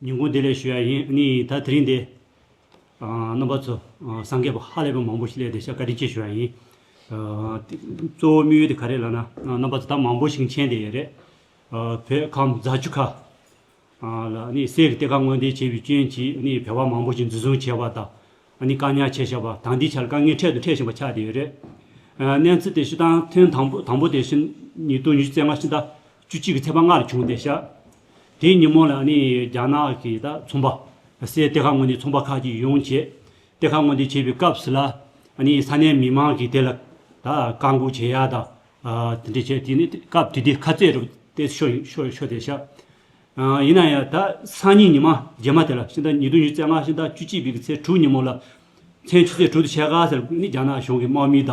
ཉིན་གུང་དེ་ལས་ཞུ་ཡ་ཡིན་ནི་ད་དེ་རིང་འདི། རྣམ་པ་ཚོ་སངས་རྒྱས་པ་ཧ་ལས་པ་མང་པོ་ཞིག་ལས་འདི་ཤ་བཀའ་དྲིན་ཆེ་ཞུ་ཡ་ཡིན། གཙོ་བོ་དམིགས་ཡུལ་དེ་ག་རེད་ལ་ན་རྣམ་པ་ཚོ་ད་མང་པོ་ཞིག་མཆན་དེ་ཡས་རེད། བོད་ཁམས་རྫ་ཆུ་ཁ། ལ་ནི་སའི་གཏེར་ཁ་དངོས་འདེད་བྱས་པའི་སྐྱོན་གྱིས་ནི་བལ་བ་མང་པོ་ཞིག་འཛིན་བཟུང་བྱས་པ་དང། ནི་བཀག་ཉར་བྱས་བཞག་པ་དང་འདི་ཆར་དཀའ་ངལ་འཕྲད་དུ་འཕྲད་བཞིན་པ་ཆགས་དེ་ཡས་རེད། གནས་ཚུལ་དེ་ཤི་དང་ཐེངས་དང་པོ་དང་པོ་དེ་ཤི་ནི་དུ་ཉི་ཤུ་རྩེ་ལྔ་ཤི་ད། བཅུ་གཅིག་གི་ཚེས་པ་སྔ་རུ་བྱུང་སྟེ་ཤར། དེའི་ཉིན་མོ་ལ་ནི་རྒྱ་ནག་གི་ད་ཚོང་པ། སའི་གཏེར་ཁ་ངོ་ནས་ཚོང་པ་ཁག་ཅིག་ཡོང་བྱས། གཏེར་ཁ་ངོ་འདི་བྱས་པའི་སྐབས་སུ་ལ་ནི་ས་གནས་མི་མང་གིས་དེ་ལ་ད་བཀག་འགོག་བྱེད་ཡ་ད། དེ་འདྲས་བྱས་དེ་ནི་སྐབས་དེ་དུས་ཁ་རྩེད་རུ་སྟེ་ཤོ་ཤོ་དེ་ཤར། ཡིན་ན་ཡང་ད་སང་ཉིན་ཉི་མ་རྗེས་མ་དེ་ལ་ཤིང་རྟ་ཉིས་སྟོང་ཉིས་བརྩེགས་སྔ་ཤིང་རྟ་བཅུ་གཅིག་པའི་ཚེས་དྲུག་ཉིན་མོ་ལ། མཚན་བཅུ་ཚེས་དྲུག་ཏུ་ཆད་ཁ་ཟེར་ནི་རྒྱ་ནག་གཞུང་གི་དམག་མིས་ད་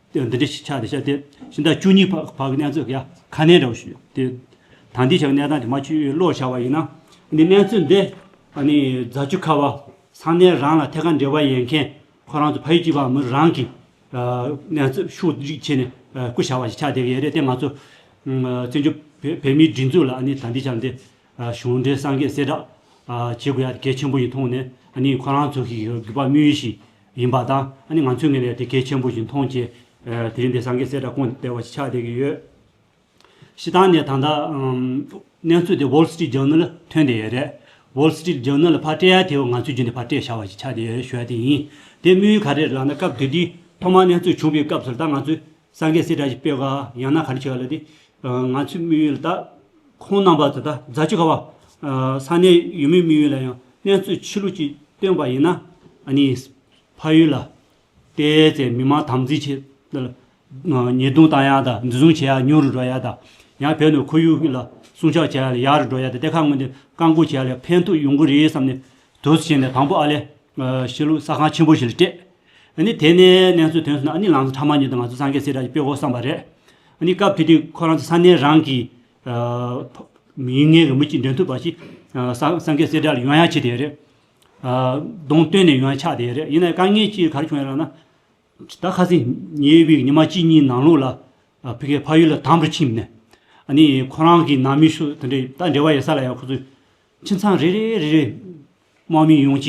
འདི་འདྲའི་ཕྱག་དེ་བཤད་དེ། ཤིང་རྟ་བཅུ་གཉིས་བག་བག་གི་གནས་ཚུལ་ཡང་ཁ་སྣེ་འདྲ་བོ་ཞིག་ཡོད་དེ། ད་འདི་བྱ་བའི་གནས་སྟངས་དེ་མ་ཆུའི་གློག་བྱ་བ་ཡིན་ན། འདི་གནས་ཚུལ་འདི། ཨ་ནི་རྫ་ཆུ་ཁ་བ། ས་གནས་རང་ལ་ཐད་ཀར་འབྲེལ་བ་ཡོད་མཁན། ཁོ་རང་ཚོ་ཕ་ཡུལ་གྱི་བ་མི་རང་གིས། གནས་ཚུལ་ཤུགས་བསྒྲིགས་བྱས་ནས་སྐུ་བྱ་བ་ཞིག་ཆགས་བསྡད་ཀྱི་ཡོད་རེད་དེ་ང་ཚོ། བཙན་བྱོལ་བོད་མིའི་སྒྲིག་འཛུགས་ལ་ཨ་ནི་ད་འདི་བྱ་བ་འདི། གཞུང་འབྲེལ་སངས་རྒྱས་གསལ་བསྒྲགས། བྱེད་དགོས་ཡ་དེ་གལ་ཆེན་པོ་ཡིན་མཐོང་ནས། ཨ་ནི་ཁོ་རང་ཚོ་གིས་བརྒྱུད་པ་དམིགས་ཡུལ་ཞིག། ཡིན་པ་དང་ཨ་ནི་ང་ཚོས་ངེས་པའི་དེ་གལ་ཆེན་པོ་ཞིག་མཐོང་ཆེ། དེ་རིང་འདིར་སངས་རྒྱས་སྲས་དགྲ་ཁོང་དེ་བ་ཞིག་ཆགས་བསྡད་ཀྱི་ཡོད། ཞེ་སྡང་ནས་ད་ལྟ། གནས་ཚུལ་དེ Wall Street Journal ཐོན་བསྡད་ཡོད་རེད། Wall Street Journal ཕར་སྤྲད་ཡ་དེ་བ་ང་ཚོའི་རྒྱུན་དེ་ཕར་སྤྲད་བཞག་བ་ཞིག་ཆགས་བསྡད་ཡོད་ཞུ་ཡ་དེ་ཡིན། དེ་དམིགས་ཡུལ་ག་རེ་རེད་ལགས་ན་སྐབས་དེ་དུས་ཐོག་མར་གནས་ཚུལ་བྱུང་བའི་སྐབས་སུ་ད་ང་ཚོས་སངས་རྒྱས་སྲས་བཀྲ་ཤིས་དཔལ་དགའ་ཡང་ན་ག་རེ་བྱས་པ་ལ་དེ། ང་ཚོའི་དམིགས་ཡུལ་ལ་དྭགས་ཁོང་རྣམ་པ་དེ་དག་རྫ་ཆུ་ཁ་བ། ས་གནས་ཡུལ་མིའི་དམིགས་ཡུལ་ལ་ཡང་གནས་ཚུལ་ཕྱི་ལུགས་ཀྱིས་སྟོན་པ་ཡིན་ན། ཕ་ཡུལ་ལ་བལྟས་ཚེ་མི་མང་དམ་འཛིན་བྱེད། ཉེས་རྡུང་བཏང་ཡག་དང་འཛིན་བཟུང་བྱས་ཡག་ཉུང་རུ་འགྲོ་ཡག་དང། ཡང་བལ་ནས་ཁོར་ཡུག་ལ་སྲུང་ཆགས་བྱས་ཡག་ལ་ཡག་རུ་འགྲོ་ཡག་དང་གཏེར་ཁ་དངོས་དེ་བཀག་འགོག་བྱས་ཡག་ལ་ཕན་ཐོགས་ཡོང་གི་རེད་བསམ་ནས་དུས་སུ་བྱས་ནས་དང་པོ་ཨ་ལས། གཞིས་ལུས་ས་ཁང་ཆེན་པོ་ཞིག་ལ་སྤྲད། ཨ་ནི་དེ་ནས་གནས་ཚུལ་ཐོན་སོང་ན་ཨ་ནི་ལང་ཚོ་ཕྲ་མ་ཉོས་ཏེ་ང་ཚོ་སངས་རྒྱས་སེ་ར་ཆུ་སྤེལ་གོ་བསམ་པ་རེད། ཨ་ནི་སྐབས་དེ་དུས་ཁོ་རང་ཚོ་ས་གནས་རང་གི། མིང་ངན་གྱི་མི་གཅིག་འདོན་ཐུབ་པ་ཞིག་སངས་རྒྱས་སེ་ར་ལ་ཡོང་ཡ་བྱེད་དེ་ཡོད་རེད། གདོང་སྟོན་ནས་ཡོང་ཡ་ཆགས་དེ་ཡོད་རེད་ཡིན་ནའི་དཀའ་ངལ་ཅིག་ག་རེ་བྱུང་ཡོད་ར་ན། ད་ཁ་སིང་ཉེ་དབྱི་བའི་ཉི་མ་གཅིག་གཉིས་ནང་ལུགས་ལ། ཕི་ཁའི་ཕ་ཡུལ་ལ་དམ་རུ་ཕྱིན་ནས། ཨ་ནི་ཁོ་རང་གི་ནང་མི་ཤུགས་དེ་འདྲས་ད་འབྲེལ་བ་ཡོད་ས་ལ་ཡང་ཁོ་ཚོས་ཁྱིམ་ཚང་རེ་རེ་རེ་རེ། དམག་མི་ཡོངས་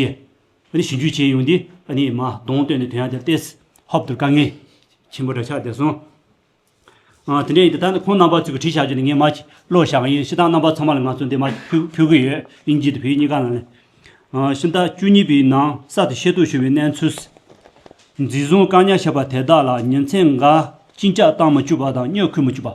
ཀྱིས་ཞིབ་འཇུག་བྱས་ཡོང་དུས་མ་གདོང་སྟོན་ནས་དོན་ཡང་དེར་བལྟས། ཧོབ་ཏུ་དཀའ་ངལ་ཆེན་པོ་འདྲ་ཆགས་བསྡད་སོང། དེ་འདྲ་ཡིན་དུས་ད་ནི་ཁོང་རྣམ་པ་ཚོས་ཁུ་འཕྲིག་བྱ་རྒྱུ་ནི་ངས་མ་བྱས། བློ་བཞག་ཡིན་ཕྱི་ཐང་རྣམ་པ་ཚང་མ་ལ་ང་ཚོ་འདི་མ་འཁྱུར་གི་ཡོད་དབྱིན་ཇི་དང་བོད་ཡིག་གཉིས་ཀ་ནང་ནས། ཕྱི་ཟླ་བཅུ་གཉིས་པའི་ནང་གསར་དུ་ཤེས་རྟོགས་བྱུང་བའི་གནས་ཚུལ། འཛིན་བཟུང་བཀག་ཉར་བྱས་པ་དེ་དག་ལ་ཉིན་མཚན་འགའ་གཅིན་སྐྱག་བཏང་མ་བཅུག་པ་དང་སྨྱོ་ཁུལ་མ་བཅུག་པ།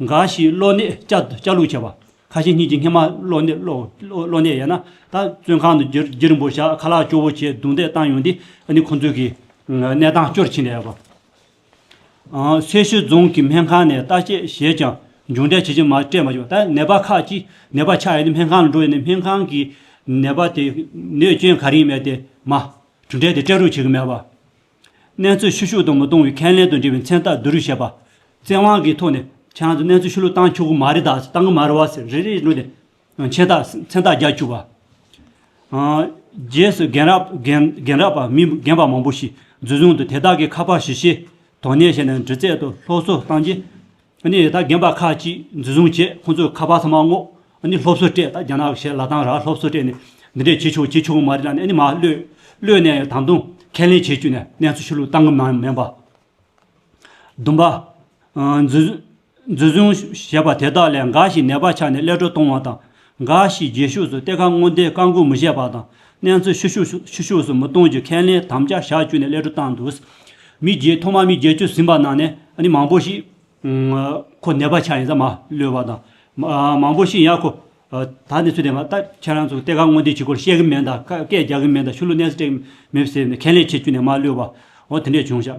འགའ་ཞིག་གློ་ནད་བཅའ་ལུགས་བྱས་པ། ཁ་ཞེ་གཉིས་ཀྱིས་སྔེ་མ་གློ་ནད་གློ་ནད་ཡས་ན། ད་བཙོན་ཁང་དུ་འགྱིར་འབོ་བཞག་ཁ་ལག་སྐྱོ་བོ་བྱས་རྡུང་རྡེག་བཏང་ཡོང་འདིས་ནི་ཁོང་ཚོས་གི་གནས་སྟངས་སྐྱོར་ཕྱིན་ལས་པ། སེར་ཤུལ་རྫོང་གི་སྨན་ཁང་ནས་བརྟག་དཔྱད་བྱས་ཀྱང་འབྱུང་འབྲས་ཇི་བཞིན་མ་སྤྲད་མ་བྱུང་ད་ནད་པ་ཁག་ཅིག་ནད་པ་ཆགས་ཡས་ནས་སྨན་ཁང་ལ་འགྲོ་ཡས་ནས་སྨན་ཁང་གིས་ནད་པ་དེ་ནད་སྐྱོན་ག་རིང་མེད་དེ་མ་གྲུབ་འབྲས་དེ་སྤྲད་རུགས་བྱེད་གི་མེད་པ། གནས་ཚུལ་ཕྱི་ཤུགས་དང་མི་གཏོང་བའི་ཁས་ལེན་དང་འབྲེལ་བའི་མཚན་རྟགས་བསྡུ་རུག་བྱས་པ། བཙན་དབང་གི་ཐོག་ནས་ཁྱེད་རང་ཚོས་གནས་ཚུལ་ཕྱི་ལོགས་བཏང་ཆོག་གི་མ་རེད་དཱ་བཏང་གི་མ་རེད་བ་ཟེར་རེ་རེ་བྱས་ནས་མཆན་རྟགས་མཚན་རྟགས་རྒྱག་བཅུག་པ། རྗེས་སུ་རྒན་རབས་པ་མི་རྒན་པ་མང་པོ་ཞིག་འཛུལ་བཟུང་དུ་དེ་དག་གི་ཁ་པར་གཞི་ཤེས་དོགས་གནས་བྱས་ནས་འདྲི་རྩད་དང་སློབ་གསོ་བཏང་རྗེས། ནས་ད་རྒན་པ་ཁག་ཅིག་འཛིན་བཟུང་བྱས་ཁོང་ཚོས་ཁ་པར་ཚང་མ་བསྔོགས། སློབ་གསོ་སྤྲད་ད་རྒྱ་ནག་གཞས་ལ་དང་ར་སློབ་གསོ་སྤྲད་ནས་འདི་འདྲས་བྱེད་ཆོག་བྱེད་ཆོག་མ་རེད་ལ་ནས་མ་གློད། གློད་ནས་ད་དུང་ཁས་ལེན་བྱེད་བཅུག་ནས་གནས་ཚུལ་ཤུ་ལུགས་བཏང་གི་མ་མིན་པ། བདུན་པ། འཛིན་བཟུང་བྱས་པ་དེ་དག་ལས་འགའ་ཞིག་ནད་པ་ཆགས་ནས་ཀླད་སྒྲོ་གཏོང་བ་དང། འགའ་ཞིག་རྗེས་ཕྱོགས་སུ་གཏེར་ཁ་སྔོན་བསྡད་བཀག་འགོག་མི་བྱེད་པ་དང་གནས་ཚུལ་ཕྱི་ཕྱོགས་སུ་མི་གཏོང་རྒྱུ་ཁས་ལེན་དམ་བཅའ་བཞག་བཅུག་ནས་སླད་དྲོ་བཏང་འདུག་མི་རྗེས་ཐོག་མ་མི་བརྒྱད་ཅུ་ཟིན་པ་ནང་ནས་ནི་མང་པོ་ཞིག་ཁོ་ནད་པ་ཆགས་ཡིན་ས་མ་ལོས་པ་དང། མང་པོ་ཞིག་ཡང་ཁོ་ད་ནས་ཚུལ་དེ་མ་ལྟ་ཁྱེད་རང་ཚོས་གཏེར་ཁ་སྔོན་བསྡད་བྱེད་སྐོར་བཤད་གི་མེད་དང་བཀས་བསྐྱལ་རྒྱག་གི་མེད་དང་ཤུལ་ལུས་གནས་སུ་སྤྲད་མེད་ཟེར་ནས་ཁས་ལེན་བྱེད་བཅུག་ནས་མ་ལོས་པ་འོ་དེ་འདྲས་བྱུང་ཞག་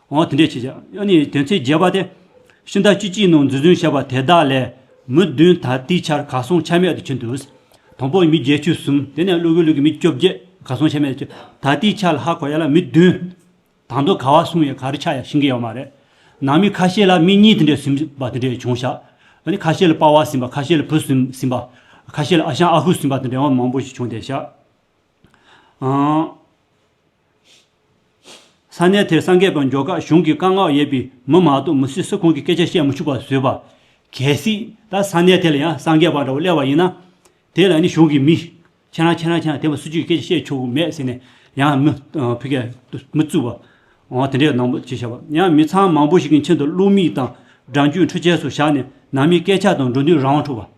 འོང་དེ་འདྲས་བྱེད་བྱ། ཡང་ནི་དེ་ཚེ་རྒྱས་པ་སྟེ། ཤིང་རྟ་ཅི་ཅིའི་ནང་འཛུལ་འཛུལ་བྱེད་པ་དེ་དག་ལས། མི་བདུན་དག་དེའི་ཆར་གར་སོང་ཆ་མེད་དུ་ཕྱིན་ཏོ། དང་པོ་མི་བརྒྱད་བཅུ་གསུམ་དེ་ནས་ཀླུ་གུ་ལུ་གུ་མི་བཅོ་བརྒྱད་གར་སོང་ཆ་མེད་དུ་ཕྱིན། ད་དེའི་ཆར་ལྷ་གོ་ཡ་ལ་མི་བདུན། དང་དུ་ག་བ་སོང་ཡང་ག་རི་ཆ་ཡང་ཤིང་གི་ཡང་མ་རེད། ནང་མི་ཁ་ཤས་ལ་མི་གཉིས་དེ་འདྲས་ཟིན་པ་དེ་འདྲས་བྱུང་བྱ། ཡང་ནི་ཁ་ཤས་ལ་པ་བ་ཟིན་པ་ཁ་ཤས་ལ་བུ་ཟིན་ཟིན་པ། ཁ་ཤས་ལ་ཨ་ཞང་ཨ་ཧུ་ཟིན་པ་དེ་འདྲས་འོང་མང་པོ་ཞིག་བྱུང་སྟེ་བྱ། ས་གནས་དེར་སངས་རྒྱས་དང་འཇོག་ཁ་གཞུང་གི་བཀའ་མངགས་ཡོད་པའི་མི་མང་དུ་མི་སུས་སུ་ཁོང་གི་སྐད་ཆ་བཤད་མི་ཆུག་པ་བཟོས་པ། གལ་སྲིད་ད་ས་གནས་དེ་ལ་ཡང་སངས་རྒྱས་པ་འདྲ་བོ་སླེབས་པ་ཡིན་ན། དེ་ལ་ནི་གཞུང་གི་མི། ཁྱེད་རང་ཁྱེད་རང་ཁྱེད་རང་དེ་མི་སུ་གཅིག་གི་སྐད་ཆ་བཤད་ཆོག་གི་མེད་ཟེར་ནས་ཡང་མི། ཕི་ཀའི། མི་བཙུགས་པ། འོང་དེ་འདྲའི་ནང་བྱས་བྱས་པ་ཡང་མི་ཚང་མང་པོ་ཞིག་གི་མཆན་དུ་བླུགས་མིག་དང་སྦྲང་རྒྱུད་འཕྲུལ་ཆས་སུ་བཞག་ནས་ནང་མིའི་སྐད་ཆ་དང་འགྲོ་འདུན་རང་དབང་འཕྲོག་པ།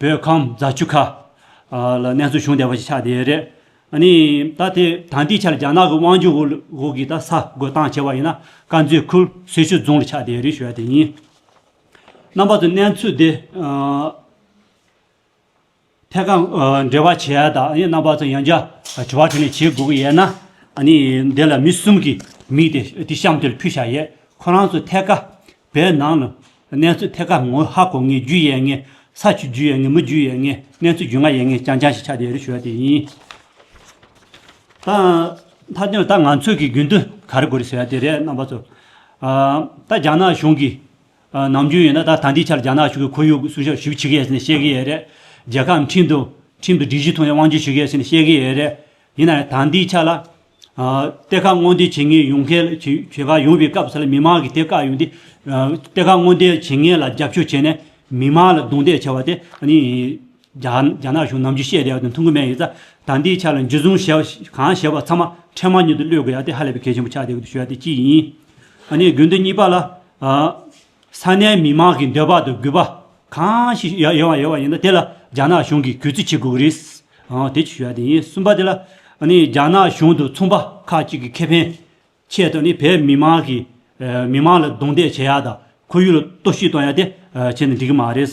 བོད་ཁམས་རྫ་ཆུ་ཁ། ལ་གནས་ཚུལ་བྱུང་བསྡད་པ་ཞིག་ཆགས་བསྡད་ཡོད་རེད། ནི། ད་དེ་དང་དེའི་ཆར་རྒྱ་ནག་གི་དབང་འཇུག་འོག་གི་ད་ས་རྒོད་སྟངས་བྱས་པ་ཡིན་ན་དཀར་མཛེས་ཁུལ་སེར་ཤུལ་རྫོང་ལ་ཆགས་བསྡད་ཡོད་རེད་ཞུ་བ་དེ་ཡིན། རྣམ་པ་ཚོས་གནས་ཚུལ་དེ། ཐད་ཀར་འབྲེལ་བ་བྱས་ཡ་དང་རྣམ་པ་ཚོས་ཡང་བསྐྱར་དྲི་བ་དྲིས་ལན་བྱེད་དགོས་ཀྱི་ཡོད་ན། ནི། འདི་ལ་མི་གསུམ་གྱི་མིང་དེ་དེ་གཤམ་དེ་ལ་ཕུལ་བཞག་ཡོད་ཁོ་རང་ཚོས་ཐད་ཀར་བའི་ནང་ལ། གནས་ཚོད་ཐད་ཀར་ངོ་ཧ་གོ་ངེས་རྒྱུ་ཡས་ངེས། ས་ཆུ་རྒྱུ་ཡས་ངེས་མི་རྒྱུ་ཡས་ངེས། གནས་ཚོད་རྒྱུ་ང་ཡས་ངེས་རྐྱང་རྐྱང་ཞིག་ཆགས་དེ་རེ་ཞུ་བ་དེ་ཡིན། ད། ད་ད་ང་ཚོས་ཀྱི་རྒྱུན་དུ་ག་རེ་དགོས་རེ་ཟེར་བ་དེ་རེད་རྣམ་པ་ཚོ། ད་རྒྱ་ནག་གཞུང་གིས། ནམ་རྒྱུན་ཡིན་ན་ད་ད་འདིའི་ཆར་རྒྱ་ནག་གཞུང་གིས་ཁོར་ཡུག་གསོ་བཞག་ཞིབ་བྱེད་ཀྱི་ཡས་ཟེར་ནས་བཤད་ཀྱི་ཡས་རེད། རྒྱལ་ཁབ་འཕྲིན་དུ། འཕྲིན་དུ་སྒྲིག་གཞི་ཐོག་ནས་དབང་བསྒྱུར་ཞུ་གི་ཡས་ཟེར་ནས་བཤད་ཀྱི་ཡས་རེད། ཡིན་ནའི་ད་འདིའི་ཆ་ལ། གཏེར་ཁ་སྔོན་འདེད་བྱེད་ངེས་ཡོང་གལ་ཆེ་ཁ་ཡོང་བའི་སྐབས་སུ་ལ་མི་མང་གིས་དེ་བཀག་ཡོང་དུས། གཏེར་ཁ་སྔོན་འདེད་བྱེད་ངེས་ལ་རྒྱབ་སྐྱོར་བྱས་ནས་མི་མང་ལ་རྡུང་རྡེག་བྱས་བ་དེ། རྒྱ་ནག་གཞུང་ནམ་རྒྱུས་བཤད་བསྡད་བ་དང་མཐུན་གོ་མེད་ཡིན་ས། ད་འདིའི་ཆ་ལ་འཇུ་བཟུང་གང་བྱས་པ་ཚང་མ་འཕྲལ་མར་ཉིད་དུ་གློད་དགོས་ཡ་དེ་ཧ་ལས་པའི་གལ་ཆེན་པོ་ཆགས་བསྡད་ཀི་འདུག་ཞུ་བ་དེ་གཅིག་ཡིན། གན་དུ་གཉིས་པ་ལ། ས་གནས་མི་མང་གི་འདོད་པ་དང་གུས་པ་གང་ཞིག་ཡོད་པ་ཡིན་ན་དེ་ལ་རྒྱ་ནག་གཞུང་གིས་གུས་བརྩི་བྱེད་དགོས་ཀྱི་རེད། དེ་ཆོས་ཡག་དེ་ཡིན་གསུམ་པ་དེ་ལ་རྒྱ་ནག་གཞུང་དང་ཚོང་པ་ཁག་ཅིག་གི་ཁེ་ཕན་ཆེད་དུ་ནི་བོད་མི་མང་གི་མི་མང་ལ་རྡུང་རྡེག་བྱེད་ཡག་དང་ཁོར་ཡུག་ལ་གཏོར་བཤིག་གཏོང་ཡག་དེ་བྱེད་ན་འགྲིག་གི་མ་རེད།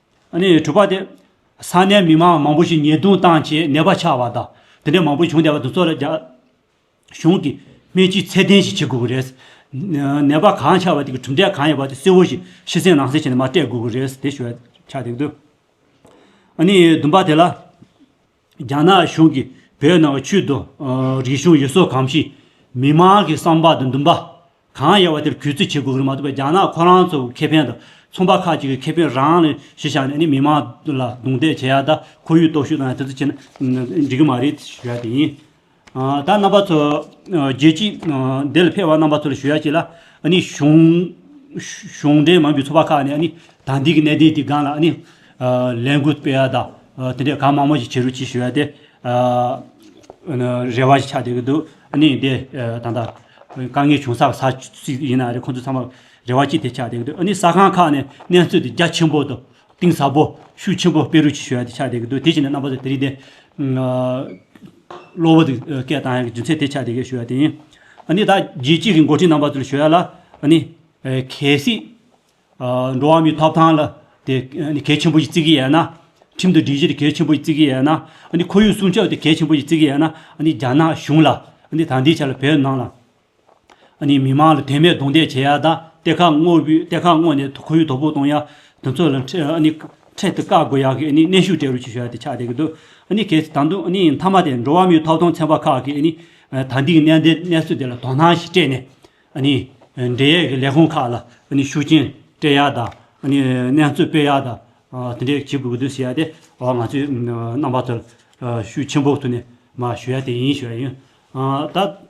གྲུབ་པ་དེ། ས་གནས་མི་མང་མང་པོ་ཞིག་ཉེས་རྡུང་བཏང་རྗེས་ནད་པ་ཆགས་པ་དང་དེ་འདྲ་མང་པོ་བྱུང་བསྡད་པ་དེ་ཚོ་ལ་རྒྱ་གཞུང་གིས་སྨན་བཅོས་ཚད་ལྡན་ཞིག་བྱེད་དགོས་ཀྱི་རེད། ནད་པ་གང་ཆགས་པ་དེ་གི་གྲུབ་འབྲས་གང་ཡིན་པ་དེ་གསལ་བོ་ཞིག་ཕྱི་གསལ་ནང་གསལ་བྱས་ནས་མ་སྤྲད་དགོས་ཀྱི་རེད་དེ་ཞོད་ཆགས་དེ་གདོད། བདུན་པ་དེ་ལ། རྒྱ་ནག་གཞུང་གིས་བོད་ནང་གི་ཆོས་དང། རིག་གཞུང་ཡུལ་སྲོལ་གང་ཞིག་མི་མང་གི་བསམ་པ་དང་འདུན་པ། གང་ཡལ་བ་དེར་གུས་བརྩི་བྱེད་དགོས་ཀྱི་རེད་མ་གཏོགས་པའི་རྒྱ་ནག་ཁོ་རང་ཚོ་ཁེ་ཕན་དང་ཚོང་པ་ཁག་ཅིག་གི་ཁེ་ཕན་རང་ལ་གཞི་བཞག་ནས་ནི་མི་མང་ལ་རྡུང་རྡེག་བྱེད་ཡ་ད་ཁོར་ཡུག་སྟོབས་ཤུགས་དང་ཡང་དེ་ཚོ་བྱེད་ན་འགྲིག་གི་མ་རེད་ཞུ་ཡ་དེ་ཡིན། ད་རྣམ་པ་ཚོ་རྒྱལ་སྤྱིས་འདི་ལ་ཕེབས་པ་རྣམ་པ་ཚོ་ལ་ཞུ་ཡ་གཅིག་ལ། གཞུང་འབྲེལ་མང་གི་ཚོགས་པ་ཁག་ནས་ནི་ད་འདི་གི་གནད་དོན་དེ་སྒང་ལ་ནི། ལས་འགུལ་སྤེལ་ཡ་དང་དེ་འདྲས་གང་མང་མོ་ཞིག་བྱེད་རུ་གཅིག་ཞུ་ཡ་དེ། རེ་བ་ཞིག་ཆགས་བསྡད་ཀྱི་འདུག་ནི་འདི་ད་ལྟ་དཀའ་ངལ་བྱུང་ས་ས་ཅིག་ཡིན་ན་རེ་ཁོང་ཚོ་ཚང་མ་རེ་བ་གཅིག་དེ་ཆགས་བསྡད་ཀྱི་འདུག་ནི་ས་ཁང་ཁག་ནས་གནས་ཚུལ་དེ་རྒྱ་ཆེན་པོ་དང་གཏིང་ཟབ་པོ་ཤུགས་ཆེན་པོ་སྤེལ་རུ་གཅིག་ཞུ་ཡ་དེ་ཆགས་བསྡད་ཀྱི་འདུག་དེ་བྱས་ནས་རྣམ་པ་ཚོ་དེ་རིང་དེ། གློ་བུར་དུ་སྐད་བཏང་ཡང་རྒྱུ་མཚན་དེ་ཆགས་དེ་སྐད་ཞུ་བ་དེ་ཡིན། ནི་ད་རྒྱལ་སྤྱི་གི་འགོ་ཁྲིད་རྣམ་པ་ཚོ་ལ་ཞུ་ཡ་ལ། ནི། གལ་སྲིད། འགྲོ་བ་མིའི་ཐོབ་ཐང་ལ་དེ་གལ་ཆེན་པོ་ཞིག་བརྩི་གི་ཡ་ན། ཁྲིམས་དང་སྒྲིག་གཞི་དེ་གལ་ཆེན་པོ་ཞིག་བརྩི་གི་ཡ་ན། ནི་ཁོར་ཡུག་སྲུང་སྐྱོབ་དེ་གལ་ཆེན་པོ་ཞིག་བརྩི་གི་ཡ་ན། ནི་རྒྱ་ནག་གཞུང་ལ། ནི་ད་འདི་ཆ་ལ་བོད་ནང་ལ། མི་མང་ལ་དད་མོས་རྡུང་རྡེག་བྱེད་ཡ་དང་གཏེར་ཁ་སྔོག་བུས་གཏེར་ཁ་བསྔོག་ནས་ཁོར་ཡུག་དོ་པོ་གཏོང་ཡ། དེ་ཚོ་ལ་འཕྲེད་དུ་བཀག་དགོས་ཡ་གི་གནས་ཤུགས་སྤྲད་རུ་ཆུ་ཞོ་ཡ་དེ་ཆགས་བསྡད་ཀྱི་འདུག་གལ་ཏེ་ད་དུང་མཐའ་མ་དེ་འགྲོ་བ་མིའི་ཐོབ་ཐང་ཚན་པ་ཁག་གིས་ད་ལྟའི་གནས་འདི་གནས་ཚུལ་འདི་ལ་དོ་སྣང་ཞིག་སྤྲད་ནས། འབྲེལ་ཡོད་ཀྱི་ལས་ཁུངས་ཁག་ལ་ཤུགས་རྐྱེན་སྤྲད་ཡ་དང་གནས་ཚུལ་སྤེལ་ཡ་དང་དེ་འདྲས་བྱེད་དགོས་ཀྱི་འདུག་ཞེས་ཡ་དེ་ང་ཚོའི་རྣམ་པ་ཚོར་ཤུགས་ཆེན་པོ་ཐུག་ནས་ཞུ་ཡ་དེ་ཡིན་ཞུ་ཡ་ཡིན། ད།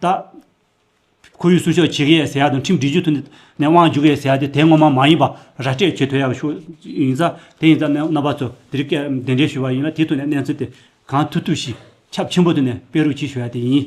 བརྟག། ཁོར་ཡུག་སྲུང་ཤོག་བྱེད་ཀྱི་ཡས་ཟེར་ཡག་དང་ཁྲིམས་སྒྲིག་ཇུས་ཐུགས་ནས་དབང་འཇུག་གི་ཡས་ཟེར་ཡག་དེ་དེ་ངོ་མ་མ་ཡིན་པ་ར་སྤྲད་བྱེད་ཐུགས་ཡག་ཤོག་ཡིན་ས་དེ་ཡིན་ས་རྣམ་པ་ཚོ་དེ་རིགས་སྐད་འདི་འདྲས་ཞུ་བ་ཡིན་ལ་དེ་ཐུགས་ནས་གནས་ཚུལ་དེ་གང་ཐུབ་ཐུབ་ཞིག་ཁྱབ་ཆེན་པོ་ཐུགས་ནས་སྤེལ་རོགས་གྱིས་ཞུ་ཡག་དེ་ཡིན།